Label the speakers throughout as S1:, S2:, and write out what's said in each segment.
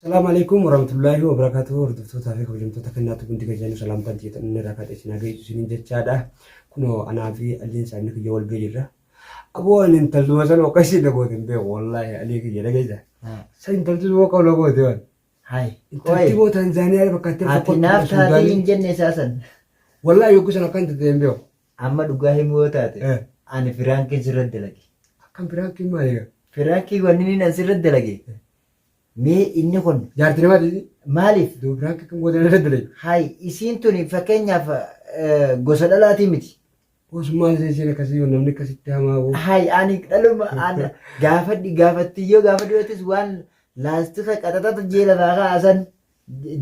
S1: Salaamu alaikum warahmatullahi wabarakatuh hordoftoota fi kabajamtoota kennaa tubuun diga jennu salaamtaan tiyya inni irraa kaatee isin hagayyu isiniin jechaadha kunoo anaa fi alliin saamni kiyya wal ga'e jirra aboo ani intalduma san oqa isin na goote hin beeku wallaahi alii kiyya dhageessa san intalti sun oqa na goote waan Hai. intalti
S2: moo
S1: taanzaaniyaa bakka itti Ati naaf taatee Suudaanii.
S2: hin jenne isaa san. wallaahi yogguu
S1: san akkan tattee hin beeku Amma dhugaa himuu
S2: yoo taate. Eh. Ani firaankiin sirra dalage. akkan biraankiin
S1: maali egaa Firaankiin wanni inni
S2: nan sirra dalage. Mee inni kun jaartii namaati
S1: maaliif duu piraank
S2: kan gootan
S1: irra dure. Hay isiin tuni
S2: fakkeenyaaf gosa dhalaatii miti. Us maal isa
S1: isiin akkasii yoo namni akkasitti hamaa boo. Hay ani dhaluma
S2: an gaafadhi gaafattiyyoo gaafa du'eetis waan laastika qaxaxata jee lafaa kaasan.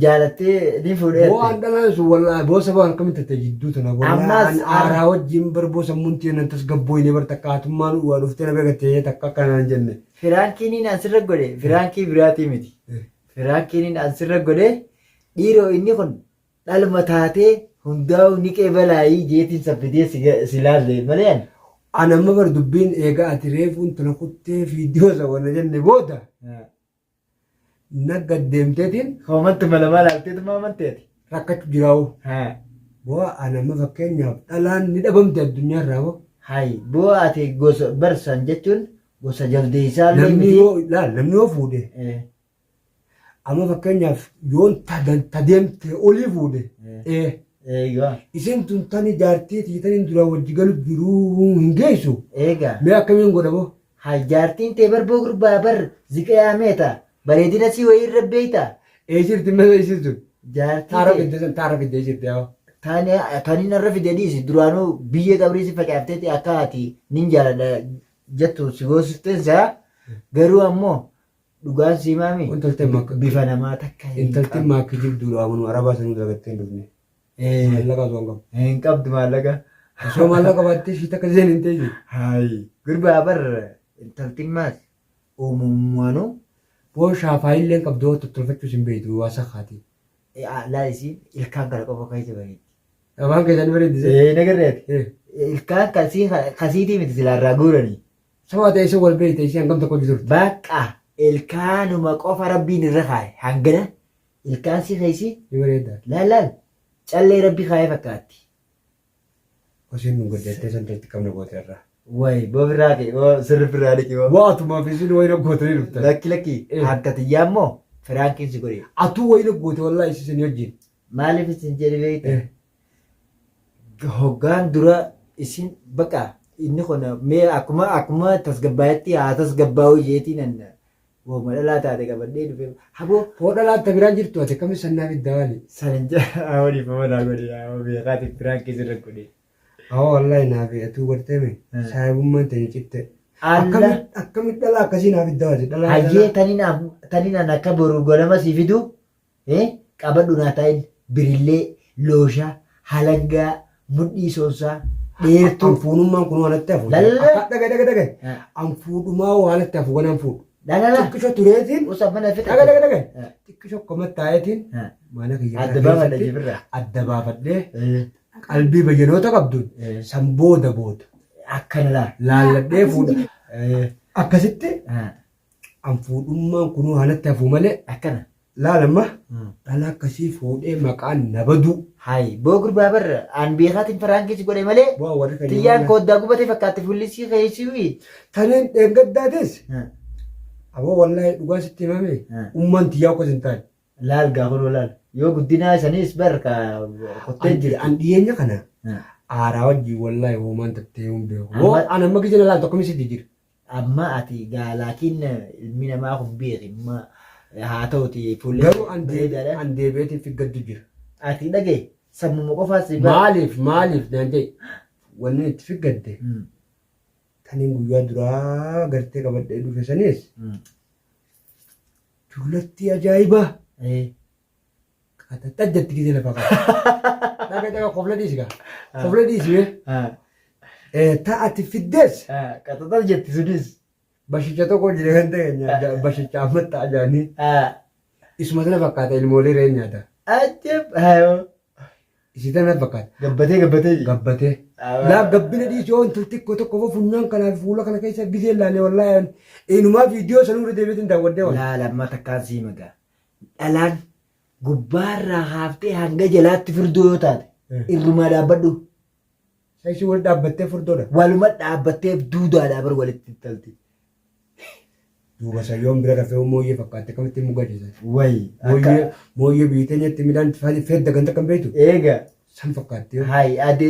S2: jaalattee ni fuudhee Boo an dhalaan sun wallaahi
S1: boo sabaa harka miti ta'e jidduu tana wallaahi Ammas an ar- aaraa
S2: wajjin bar
S1: boo sammuun tiyya nan tasgabbooyne bar takka hatummaan waa dhuftee na beekattee takka akka naan jenne. Firaankiiniin an sirra
S2: godhe firaankii biraatii miti. Eh. Firaankiiniin an sirra godhe dhiiroo inni kun dhalma taatee hundaa'uu ni qeebalaayii jeetiin saffidee si ga- si laalle malee ani. An amma bar
S1: dubbiin eegaa ati reefuun tana kuttee fiidiyoo isa wanna jenne booda Nag gad deemteetiin hoomatti malamaa
S2: laalteetu maa amantee ati? Rakkachu jiraa'u.
S1: Haa. Bu'aa an amma fakkeenyaaf dhalaan ni dhabamte addunyaa irraa hoo? Hayi. Bu'aa
S2: ati gosa barsan jechuun gosa jaldeessaa illee Namni miti. yoo laal namni
S1: yoo fuudhe Eh, amma fakkeenyaaf yoon ta dan- ta deemte olii fuudhe Eh. ee Eegaa.
S2: isin tun
S1: tani jaartii tii tani duraa wajji galu jiruu hin geessu Eegaa. mee akkamiin
S2: godha boo?
S1: Hay jaartiin
S2: tee barboo gurbaa bar ziqayaa meeta bareedina sii wayii irra beeyta. Ee jirti masa
S1: isin sun. Jaartii Taara tee. fidde sun taara fidde
S2: jirti yaa.
S1: Tani tani narra
S2: fide dhiisi duraanuu biyyee qabrii si facaafteeti akka ati nin jaaladha jettu si goosifteen si'a garuu ammoo dhugaan siimaami Intalteen makka- bifa
S1: namaa takka hin
S2: intaltiin qabdu. maakki
S1: jibduudha amanu arabaa sanii dalagattee hin dhufne Eh. Maallaqa osoo hin qabu. Hin qabdu maallaqa.
S2: Osoo maallaqa
S1: baattee ishii takka seen hin ta'e. Hayi. Gurbaa
S2: bar intaltiin maas uumammaanuu. Boo
S1: shaafaa illee hin qabdu tottolfachuus hin beektu waa sakkaati. Laa isiin
S2: ilkaan kana qofa keessa bareeddi. Afaan keessan
S1: bareeddise. Eh, nagarreeti. Eh.
S2: Ilkaan kasii kasiitii miti silaa irraa guuranii. Sabaa ta'e isa
S1: wal beekte ishee hangam tokko hojii turte. Bakka
S2: ilkaanuma qofa rabbiin irra kaa'e hangana Ilkaan sii keessi ni bareedda. Laal
S1: laal
S2: callee rabbi kaayee fakkaatti.
S1: Hosin nu goddattee san teetti qabna goote irraa. Wayi boo birraa
S2: kee boo sirri birraa dhiki boo. Waa atuma fisin wayina
S1: gootanii dhuftan. Lakki lakki Eh. harka
S2: tiyyaa immoo firaankiin si godhe. Atuu wayina goote wallaahi
S1: isisin wajjin. Maaliif isin
S2: jedhi beekta? Eh. Hoggaan dura isin baqa inni kun mee akkuma akkuma tasgabbaa'etti haa tasgabbaa'u jeetiin anna Wooma dhalaa taate qabadhee dhufe. Habo hoo dhalaan ta biraan
S1: jirtu ati akkamitti sannaa fidda waali. Sanin jaa awoo
S2: dhiifama naa godhi awoo beekaati piraanki sirra godhe. Awoo wallahi
S1: naa fi atuu gartee me Eh. saahibummaan tani citte. Alla. Akkamitti
S2: akkamitti dhalaa
S1: akkasii naa fidda waati dhalaa Hayyee dhalaa.
S2: tanin af- tanin an akka boru ganama sii fidu Ee qabadhu naatail birillee loosha halangaa mudhii soonsaa dheertuu. An fuunummaan kunoo anatti
S1: hafu. Lalala. Akka dhaga dhaga dhaga. Ha. An fuudhumaa hoo anatti hafu waan an fuudhu. Lalala. Xiqqisho
S2: tureetiin.
S1: Usa mana fita. Dhaga dhaga
S2: dhaga. Ha. Xiqqisho
S1: koma taayetiin. Ha. Mana kiyya Adda baafadha keessatti jibirra.
S2: Adda baafadhee
S1: Ee, qalbii bayyanoota qabduun ee, san booda booda akkana
S2: laa. laalladhee fuudha.
S1: Ee, Akkasitti ha. an fuudhummaan kunoo hanatti hafuu malee akkana laal
S2: amma
S1: dhala akkasii fuudhee maqaan na baduu Hayi boo gurbaa
S2: bar aan beekaatiin faraankii si godhe malee bu'aa warri kan tiyyaan nyaanna.
S1: kooddaa gubatee fakkaatti
S2: fullisii keessii Taniin
S1: dheengaddaatis aboo wallaahi dhugaa sitti himame Hmm. ummaan tiyyaa akkas hin taane. laal gaafanoo laal
S2: yoo guddinaa isaniis bar ka kuttee An- jirti. An dhiyeenya kana
S1: Hmm. aaraa wajjin wallaahi hoomaan tattee hin beeku. Amma- Hoo an amma gijina laal tokko misiti jira. Amma ati
S2: gaa laakiin ilmi namaa kun beeki amma haa ta'uti fuullee Garuu an deebi- bareedaadha.
S1: an deebi'eetiin fi gaddu jira. Ati dhagee
S2: sammuma qofaa si bara. Maaliif maaliif
S1: naan jedhe wanni itti fi gadde Mm, taniin guyyaa duraa gartee qabadhee dhufe saniis mm, dullatti ajaa'ibaa. eh, Ata tajja itti gidee lafa qaba. Dhaga dhaga kofla dhiisi gaa. Kofla dhiisi mee. Ta ati fiddees. Qaxaxal jetti
S2: sunis. Bashicha tokko
S1: jira kan ta'e nyaata. Bashicha amma ta'a jaanii. Isuma sana fakkaata ilmoolee re'een nyaata. Ajjab.
S2: Isi
S1: sana fakkaata. Gabbatee gabbatee.
S2: Gabbatee.
S1: Laa gabbina dhiisi oon xixiqqoo tokko fo funyaan kanaa fi fuula kana keessa gizee laalee wallaahi. Inumaa
S2: viidiyoo
S1: sanuu irra deebiitiin
S2: daawwadhee
S1: waan. Laa lamma takkaan sii magaa.
S2: dhalaan gubbaarraa haaftee hanga jalaatti furdoo yoo taate irrumaa dhaabbadhu Saishii
S1: wal dhaabbattee furdoodha. waluma dhaabbattee
S2: duudaadhaa bar walitti talti.
S1: Duuba sayyoon bira rafee mooyyee fakkaatte kamitti mugadisa. Wayi akka Mooyyee
S2: mooyyee
S1: biitee nyaatti midhaan fedda ganta kan beektu. eega San
S2: fakkaattee hoo?
S1: Hayi ade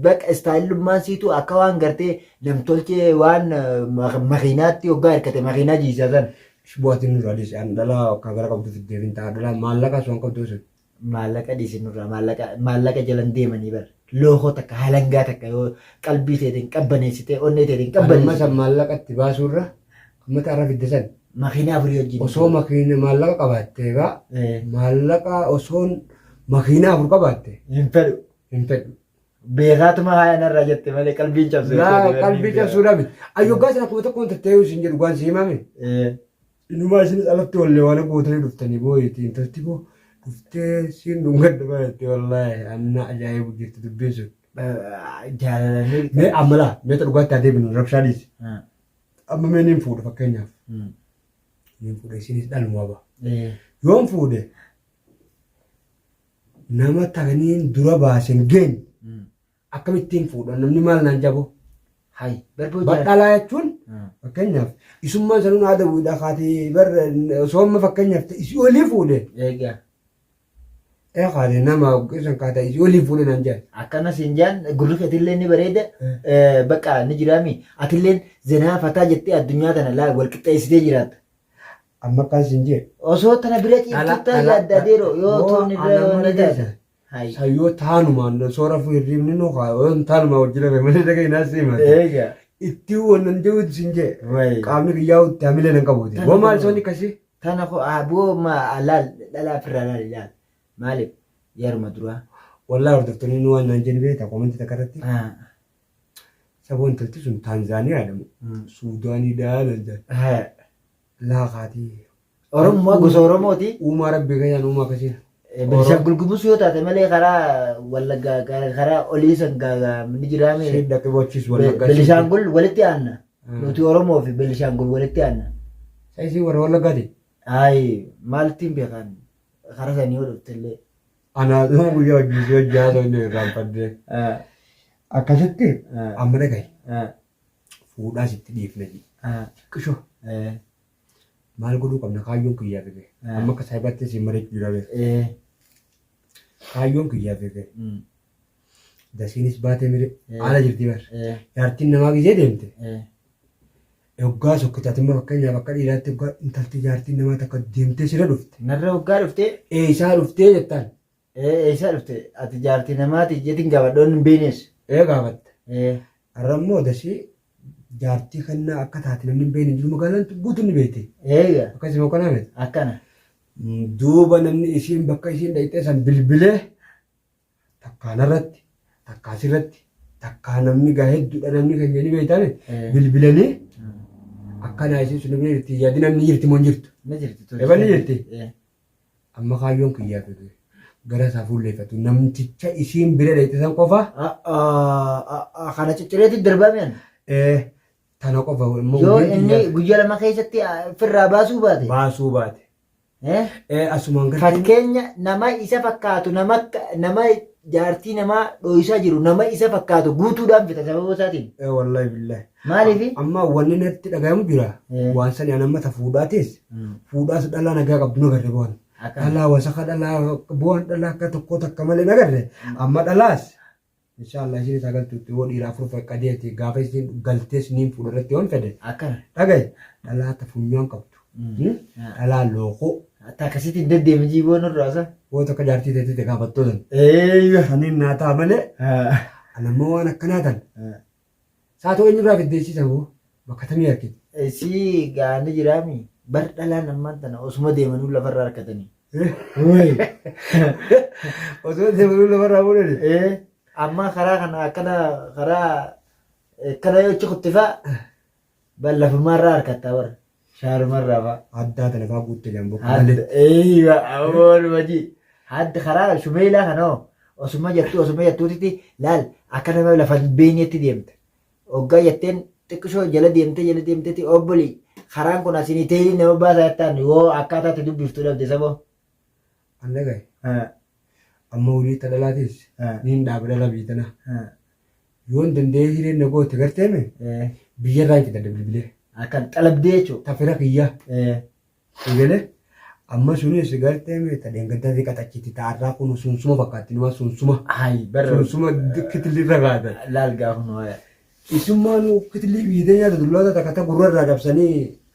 S2: baqa istaayilummaan siitu akka waan gartee namtolchee waan makiinaatti hoggaa hirkate makiinaa jiisaa san. Shibootti nurraa dhiisi
S1: an dhalaa akka gara qabdu fiddee fin ta'a dhalaa maallaqaa sun qabduu sun. Maallaqa dhiisi
S2: nurraa maallaqa maallaqa jalan deemanii bar lookoo takka halangaa takka yoo qalbii teetiin qabbaneessitee onnee teetiin Anumma san qabbaneessitee. maallaqa
S1: itti baasuurra ummata arra fidde san. Makiinaa afurii wajjin.
S2: Osoo makiina maallaqa
S1: qabaatte egaa Eh. maallaqa osoon makiina afur qabaatte Hin fedhu. hin
S2: fedhu.
S1: Beekaatuma
S2: haaya narraa jette malee qalbiin cabsee. Laa qalbii cabsuudha
S1: miti. Ayyoggaa sana kuma tokkoon tattee isin jedhu waan si himame. Inumaa isinis alatti wallee waan gootanii dhuftanii booyiti intalti koo dhuftee siin dhungadda baratte wallaahi anna ajaa'ibu jirti dubbiin sun. Jaalalanii.
S2: Mee ammalaa
S1: meeta dhugaatti haa deebinu rabshaa dhiisi. Amma mee niin fuudha fakkeenyaaf. Niin fuudha isinis dhaluma ba. Yoon fuudhe nama takaniin dura baasen geenye akkamittiin fuudha namni maal naan jabo. Hai. Garba hojii. Badhalaa jechuun fakkeenyaaf isummaan sanuun haadha bu'uudha kaatee bar osoo amma fakkeenyaaf isii olii fuudhe Egaa. Ee kaate nama isan kaata waliin fuune naan jaan. akkana siin jaan
S2: gurri keetillee ni bareeda eh, bakka ni jiraami atilleen zenaa fataa jettee addunyaa tana laa wal qixxeessitee jiraatta Amma akkaan
S1: siin jee. osoo tana bira Dhala-
S2: ciiftuuttaa dhala- yaaddaa deeroo yoo yoo toon irra ana yoo mana ni taate keessa. Hayi. San yoo
S1: taanumaan soora fuu hirriibni nu kaa yoo taanumaa wajjin hafe malee dhaga'e naa siin maate. eega Itti
S2: wannan
S1: jehuutu siin jee. Wayi. Qaamni kiyyaa itti hamilee nan qabuuti. Tan Woo maal qabu. soonni kasii? Tana ko aboo
S2: ma laal dhalaa firraa laal ilaal maalif yaruma duraa. Wallahi hordoftonni
S1: nu waan naan jennu beekta koomenti takka irratti. Saboo intalti sun Taanzaaniyaa dha moo Suudaanii dha naan jedhan. Laa kaati. Oromuma
S2: gosa Oromooti. Uumaa rabbi keenyaan uumaa
S1: akkasii. Beenishaangul Gumuz
S2: yoo taate malee karaa Wallaggaa karaa olii san ni jiraame. Siif dhaqee bochiis
S1: Wallaggaa. Beenishaangul walitti
S2: aanna. Nuti Oromoo fi Benishaangul walitti aanna. Sa isii warra
S1: Wallaggaati? Ayi
S2: maaltiin beekaan karaa sanii yoo dhufte illee. Anaa dhuma
S1: guyyaa hojii si hojjaa ta'u inni irraanfadde. Ah, Akkasitti ah, amma dhagahi. ah, Fuudhaa sitti dhiifna jedhi. ah, Qishoo eh, maal godhuu qabna kaayyoon kiyyaa fige. Ah. Amma akka saayibaatti siin mari'achuu jira beeku. eh, Kaayyoon kiyyaa fige. mm, Dasiinis baatee mire Eh. haala jirti bar. Eh, Jaartiin namaa gizee deemte. eh, Yoggaa sokkitaatummaa fakkeenyaaf akka dhiiraatti yoggaa intalti jaartiin namaa takka deemtee sira dhufte. Narra hoggaa dhuftee
S2: Eessaa dhuftee
S1: jettaan. eh, eessaa dhufte
S2: ati jaartii namaati jetiin gaafadhoon hin beeknes. Ee gaafatte. Eh,
S1: Har'a immoo dasii jaartii kannaa akka taate namni hin beekne jiru magaalaan guutuun ni beekte. eega Akkasuma yoo
S2: kanaa miti.
S1: akkana.
S2: Duuba
S1: namni isiin bakka isiin dhaqxee san bilbilee takkaa narratti takkaa sirratti takkaa namni gaa hedduudha namni keenya ni beektaame Eh. bilbilanii akkanaa isin sun bira jirti yaadi namni jirti moo hin jirtu Na jirti tole. Eballi
S2: jirti?
S1: Eh. amma kaayyoon kiyyaa fi ture gara isaa fuulleeffatu namticha isiin bira dheeyte san qofa Ah, ah,
S2: ah, ah, Kana ciccireetti darbame ani. eh,
S1: tana qofa immoo Yoo hojii inni kiyyaa guyyaa
S2: lama keessatti ah, firraa baasuu baate. baasuu baate
S1: Eh? Ee asumaan gartee Fakkeenya
S2: nama isa fakkaatu nama akka- nama jaartii namaa dhooysaa jiru nama isa fakkaatu guutuudhaan fita sababa isaatiin. ee wallahi billahi.
S1: Maaliifi? Amma
S2: wanni natti
S1: dhagahamu jira. Ee. Waan sani an amma ta fuudhaatis Mm. fuudhaas dhalaa nagaa qabdu na garre bu'an. Akkana. Dhalaa wasaka dhalaa bu'an dhalaa akka tokkoo takka malee na garre amma dhalaas Inshallah isinis ha galtu itti woo dhiira afur feqqadee itti gaafa isiin galtee isiniin fuudha irratti yoon fede Akkana. dhagaye
S2: dhalaa
S1: ta funyaan qabdu Hmm? Ah. dhalaa lookoo Ati akkasitti hin
S2: deddeemi jiiboo nurraa sa. woo takka jaartii teetii
S1: te gaafattoo san Eeyya. saniin naa ta'a malee Ah. anammoo waan akkanaa tan Ah. Saatoo eenyurraa fiddee isii saboo bakka tamii harkite. Isii gaani
S2: jiraami bar dhalaan ammaan tana osuma deemanuu lafarra harkatanii. Wooyi.
S1: Osoo deemanuu lafarraa fuudhani. Ee amma karaa
S2: kana akkana karaa akkana yoo achi kuttifaa Bar lafummaa irraa harkattaa bar. Shaaruma irraa fa'a. Adda adda lafaa guutte
S1: jan bokka Hadda malee. eeyyiba
S2: amoon wajii. Hadda karaa shumeelaa kanoo osuma jettuu osuma jettuutiti laal akka nama lafa hin beekneetti deemta. Oggaa jetteen xiqqishoo jala deemtee jala deemteeti obbolii karaan kun asiin teerii nama baasaa jettaan yoo akkaataa itti dubbiftu dhabde saboo.
S1: an dhagaye amma wulii ta dhalaatis niin dhaaba dhala biyyi tana yoon danda'ee hireen na goote garteeme biyya irraa itti gadda bilbilee akkan xalabdee
S2: jechuudha ta fira kiyyaa
S1: eegalee amma sunis garteeme ta deengaddaa xiqqa tachitti ta arraa kun sunsuma fakkaatti numa sunsuma Hayi barra sunsuma
S2: kitilli
S1: irra kaatan. laal gaafa nu haaya.
S2: Isummaan
S1: kitilli biyya nyaata dullaa takka ta gurra irraa cabsanii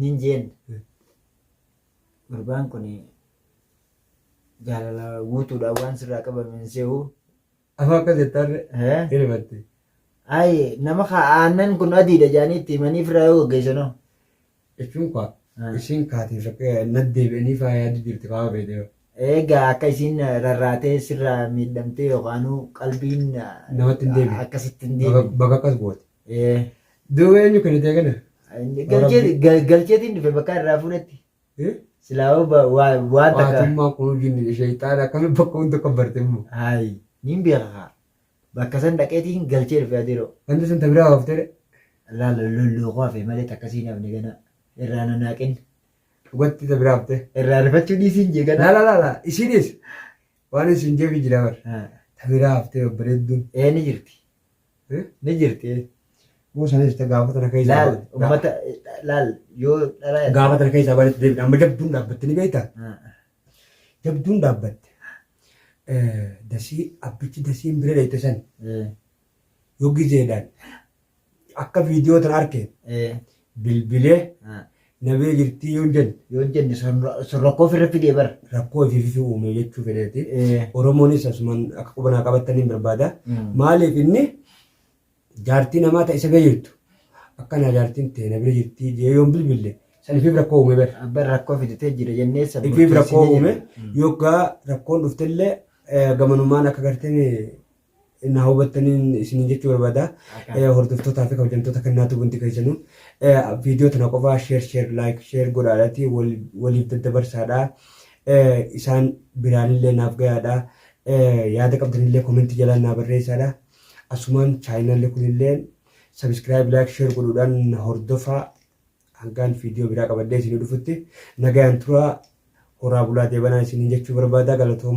S2: Nin jeen gurbaan kun jaalala guutuudhaan waan sirraa qabame hin se'u. Amma akka
S1: jettarre Eh? hin himatte. Ayi
S2: nama kaa aannan kun adiidha jedhanii itti himanii firraa yoo gaggeessanoo. Jechuun
S1: kaa Ah. ishiin kaatiif akka naddeebi'anii faayaa jirti faayaa beekte. Egaa akka
S2: isiin rarraatee sirraa miidhamtee yookaanuu qalbiin Namatti hin deebi'u.
S1: akkasitti hin deebi'u. Bakka
S2: akkas goote.
S1: Eh, Duuba eenyu kennitee kana? galchee- gal-
S2: Galcheetiin dhufe bakka irraa fuudhetti. Eh? Silaa hoo ba- waa- waan takka. Waatummaa kun jinni
S1: sheeyxaana akkamiin bakka hunda kan barte immoo. Haayi, niin
S2: beeka kaa. Bakka san dhaqeetiin galchee dhufe adeeroo. Ganda sun tabiraa hooftee
S1: Laala
S2: lolloo koo hafe malee takka siin hafne gana. Irraa na naaqin. dhugatti
S1: tabiraa hooftee. Irraa rifachuu dhiisiin
S2: jee gana. Laala laala isiinis
S1: waan isin jeefi jira bar. Ah, Tabiraa hooftee babbareedduun. Ee ni jirti.
S2: Ni jirti. Yoo sana jirte
S1: gaafa tana keessa. Laal ba- ga- ummata
S2: laal yoo dhala yaadde- Gaafa tana keessa bareetti deebiin
S1: amma jabduun dhaabbatte ni beekta. Ah, Jabduun dhaabbatte. Eh, Dasii abbichi dasiin bira dheeyte san eh, yoo gizeedhaan akka viidiyoo tana arke eh, bilbilee na bira jirtii yoon jenne. Yoon jenne
S2: sun rakkoo ofirra fidee bara. Rakkoo ifiififi uume
S1: jechuu fedheeti. Oromoonis asumaan akka quba naa qabattan hin barbaada. Maaliif inni jaartii namaa ta isa bira jirtu akka naa jaartiin tee na bira jirtii jee yoon bilbille san ifiif rakkoo uume bara. Abban rakkoo fiditee jira
S2: jennee san Ifiif rakkoo uume
S1: yoggaa rakkoon dhuftellee gamanumaan akka gartee na hubattaniin isiniin jechuu barbaada. Eh, Hordoftootaa fi kabajamtoota kan naatu bunti keessanuu eh, viidiyoo tana qofaa sheer sheer laayik sheer godhaadhaati wal- waliif daddabarsaadha. Eh, Isaan biraanillee naaf gayaadha. Eh, Yaada qabdanillee komentii jalaan naa barreessaadha. Asumaan chaayinaalli kunillee sabiskiraayib laayik sheer godhuudhaan na hordofaa hangaan viidiyoo biraa qabadhee isinii dhufutti nagayaan turaa horaa bulaa deebanaa isiniin jechuu barbaada galatooma.